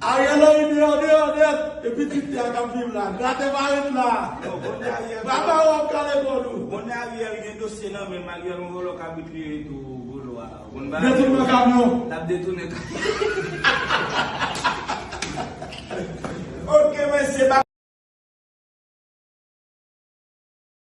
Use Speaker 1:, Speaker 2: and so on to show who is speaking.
Speaker 1: Ariel Henry
Speaker 2: deyò deyò nèt e pitit li a kap viv la grate pa ret la baba ou ap kale kò nou. Bon Ariel gen
Speaker 1: dosye nan menm Ariel yon vòlò kabrit li ye tou bolo a ou
Speaker 2: konn
Speaker 1: bagay yo lap detounen kamyon. Ok mesye.